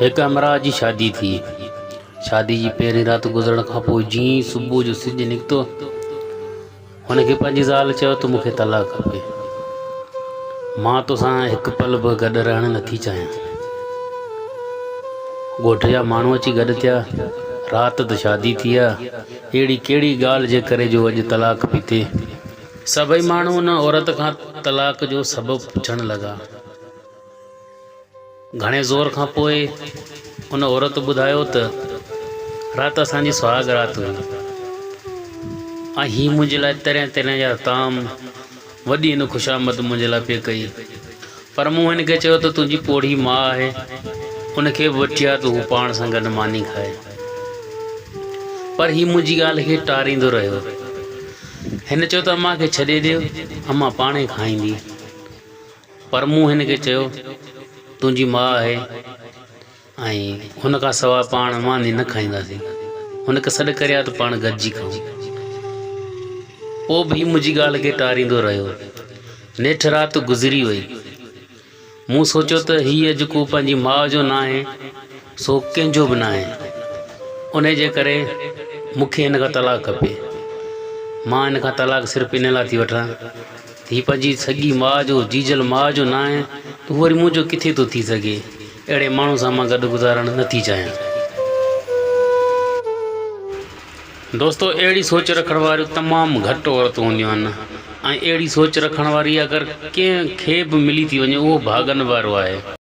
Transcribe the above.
هڪ همراهه جي شادي ٿي. شادي جي پهرين رات گذرڻ کان پوء جيئن ئي صبح جو سج نڪتو، هن کي پنهنجي زال چيو ته مون کي طلاق کپي. مان توسان هڪ پل به گڏ رهڻ نٿي چاهيان. ڳوٺ جا ماڻهو اچي گڏ ٿيا. رات ته شادي ٿي ها، اهڙي ڪهڙي ڳالهه جي ڪري جو اڄ طلاق پئي ٿئي. سڀئي ماڻهو ان عورت کان طلاق جو سبب پڇڻ لڳا. گهڻي زور کان پوء ان عورت ٻڌايو ته، رات اسان جي سهاڳ رات هئي ۽ هي منهنجي لاء طرح طرح جا طعام وڏي هن خوشامد منهنجي لاء پئي ڪئي. پر مون هن کي چيو ته تنهنجي پوڙهي ماء آهي، ان کي به وٺي آ ته هو پاڻ سان گڏ ماني کائي. پر هي منهنجي ڳالهه کي ٽاريندو رهيو. هن چيو ته امان کي ڇڏي ڏيو، امان پاڻهي کائيندي. پر مون هن کي چيو، تنهنجي ماء آهي ۽ هن کان سواء پاڻ ماني نه کائينداسين. هن کي سڏ ڪري آء ته پاڻ گڏجي کائون. پوء به هي منهنجي ڳالهه کي ٽاريندو رهيو. نيٺ رات گذري وئي. مون سوچيو ته هيء جڪو پنهنجي ماء جو ناهي، سو ڪنهن جو به ناهي. انهيء جي ڪري مون کي هن کان طلاق کپي. مان هن کان طلاق صرف ان لاء ٿي وٺان. ٿي پنهنجي سڳي ماء جو جيجل ماء جو ناهي ته هو وري منهنجو ڪٿي ٿو ٿي سگهي. اهڙي ماڻهو سان مان گڏ گذارڻ نه ٿي چاهيان. دوستو اهڙي سوچ رکڻ واريون تمام گهٽ عورتون هونديون آهن ۽ اهڙي سوچ رکڻ واري اگر ڪنهن کي به ملي ٿي وڃي اهو ڀاڳن وارو آهي.